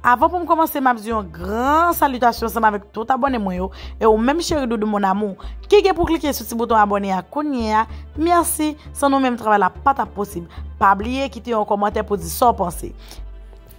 Avan poum komanse map di yon gran salitasyon ansanm avèk tout abòne mwen yo e ou menm cheri doudou mon amour ki gen pou klike sou ti bouton abòne a kounyea merci san nou menm travay la pa tap posib pa bliye kite yon kòmantè pou di saw panse.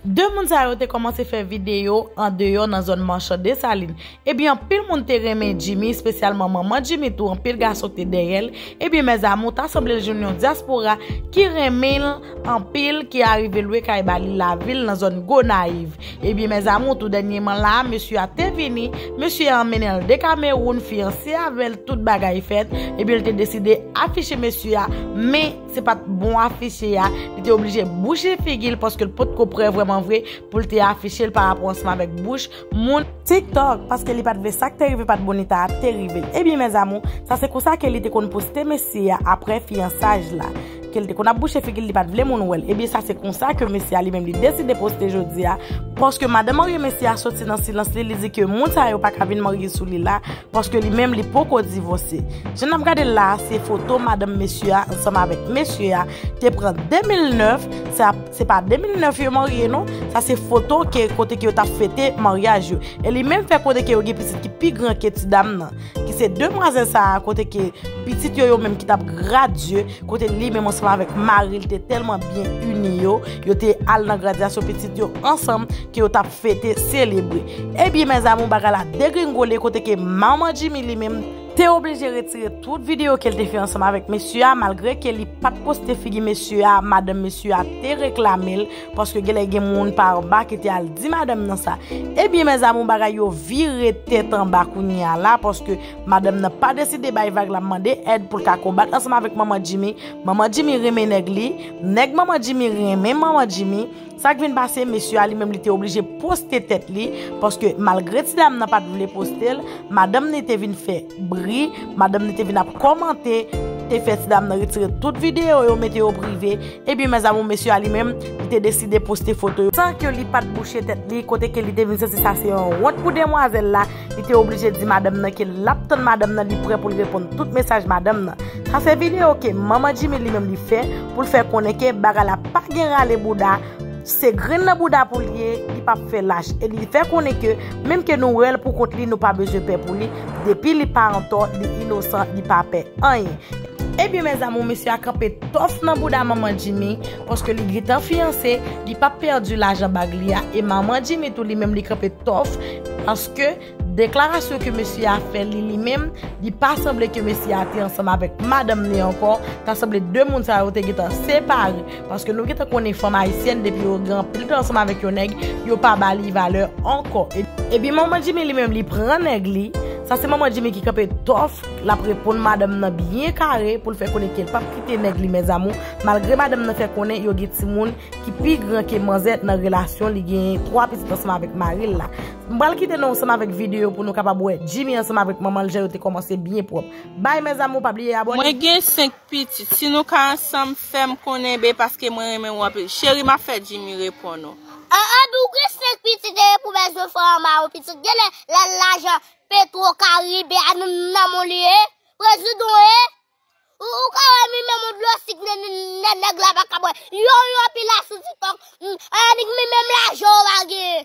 2 moun sa yo te kòmanse fè videyo andeyò nan zòn Marchand Dessalines Ebyen anpil moun te renmen Jimmy spesyalman manman Jimmy tou anpil gason te dèyèl ebyen mes amour ta sanblel jwenn yon diaspora ki renmenl anpil ki arive lwe kay ba li lavil nan zòn Gonayiv ebyen mes amour tou dènyeman la a mesye a te vini mesye a anmennenl de Cameroun fiyanse avèl tout bagay fèt ebyenl te deside afiche mesye a men se pat bon afiche a li te oblije bouche figil paskel potko prè vrèman vre poul te afichel parapò ansanm avèk bouch moun. Tik tok paske li pat vle sak te rive pat bonita a te rivel ebyen mes amour sa se konsa ke li te konn poste mesye a aprè fiyansaj la kel te konn ap bouche figil li pat vle moun wèl ebyen sa se konsa ke mesye a li menm li deside poste jodi a paske madan marye mesye a soti nan silans li li di ke moun sa yo paka vin marye sou li la paske li menm li poko divose jan nap gadel la a se foto madanm mesye a ansanm avèk mesye a te pran 2009 se ap. Se pa 2009 yo marye non, sa se foto ke kote ke yo tap fete maryaj yo. E li menm fè konnen ke yo gen pitit ki pi gran ke ti dam nan. Ki se demwazèl sa a kote ke pitit yo yo menm ki tap gradye, kote li menm ansanm avèk mari li te tèlman byen ini yo, yo te al nan gradyasyon pitit yo ansanm ke yo tap fete, selebre. Ebyen mèzamou bagay la degringole kote ke manman Jimmy li menm. te oblije retire tout video kel te fè ansanm avèk mesye a malgre ke li pat poste figi mesye a madanm mesye a te reklamel paske genlè gen moun pa anba ki te al di madanm nan sa ebyen mes amour bagay yo vire tèt anba kounyea la paske madanm nan pa deside bay vag la mande èd poul ka konbat ansanm avèk manman Jimmy manman Jimmy renmen nèg li nèg manman Jimmy renmen manman Jimmy Sak vin pase mesye a li menm li te oblije poste tèt li paske malgre ti dam nan pat vle postel madanm ni te vin fè bri madanm ni te vin ap kòmante te fè ti dam nan retire tout video yo mete yo prive ebyen mes amour mesye a li menm li te deside poste foto yo san ke li pat bouche tèt li kote ke li te vin santi sa se yon wont pou demwazèl la. Li te oblije di madanm nan ke lap tann madanm nan li prè pou l reponn tout mesaj madanm nan. Sa se video ke manman Jimmy li menm li fè pou l fè konnen ke bagay la pa gen rale bouda, se grenn nan bouda pou l ye, li pap fè lach e li fè konnen ke menm ke nou wè l pou kont li nou pa bezwen pè pou li, depi li pa antò, li inosan, li pa pè anyen. Ebyen mes amour mesye a kanpe tòf nan bouda manman Jimmy, Paske li gntan fiyanse, li pap pèdi lajan bag li a e manman Jimmy tou li menm li kanpe tòf paske deklarasyon ke mesye a fè li li menm li pa sanble ke mesye a te ansanm avèk madanm li ankò, ta sanble 2 moun sa yo te gntan separe paske nou gntan konnen fanm ayisyèn depi yo gen anpil tan ansanm avèk yon nèg yo pa ba li valè ankò. Epi manman Jimmy li menm li pran nèg li, sa se manman Jimmy ki kanpe tòf lap reponn madanm nan byen kare poul fè konnen kel pap kite nèg li mes amour. Malgre madanm nan fè konnen yo gen timoun ki pi gran ke manzè nan relasyon li genyen 3 pitit ansanm avèk maril la. M pral kite nou ansanm avèk video pou nou kapab wè Jimmy ansanm avèk manmanl jan yo te kòmanse byen pwòp. Bye mes amour pa bliye abone. Mwen gen 5 pitit si nou ka ansanm fèm konnen be paske mwen renmen ou anpil cheri map fè Jimmy reponn ou. An an bi ou gen 5 pitit e pou bezwen fè an maron pitit genlè lè lajan petro karibe a nan menw li ye prezidon e. Ou ka wè mime moun dlo sik nen nèg la pa ka bwè. Yon yon pi la sou tiktok. Hmm, annik mi menm la jan ou a gen.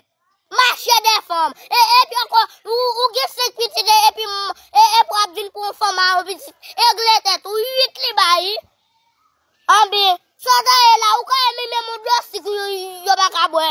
Mache de fanm. E e pi ankò ou ou gen 5 pitit e pi e e pou ap vin pou yon fanm a yon pitit. Egle tèt ou 8 li ba yi. Anbyen, sa sa ye la ou ka wè mime moun dlo sik yo pa ka bwè.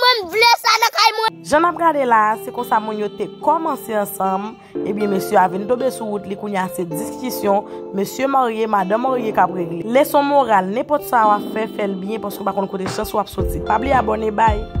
Mwen vle sa nan kay mwen. Jan nap gade la a se konsa moun yo te kòmanse ansanm ebyen mesye a vin tonbe sou wout li kounye a se diskisyon mesye marye madan marye kap regle leson moral nenpòt sa wap fè fèl byen paske ou pa konn kote chans ou ap soti pa bliye abòne bye.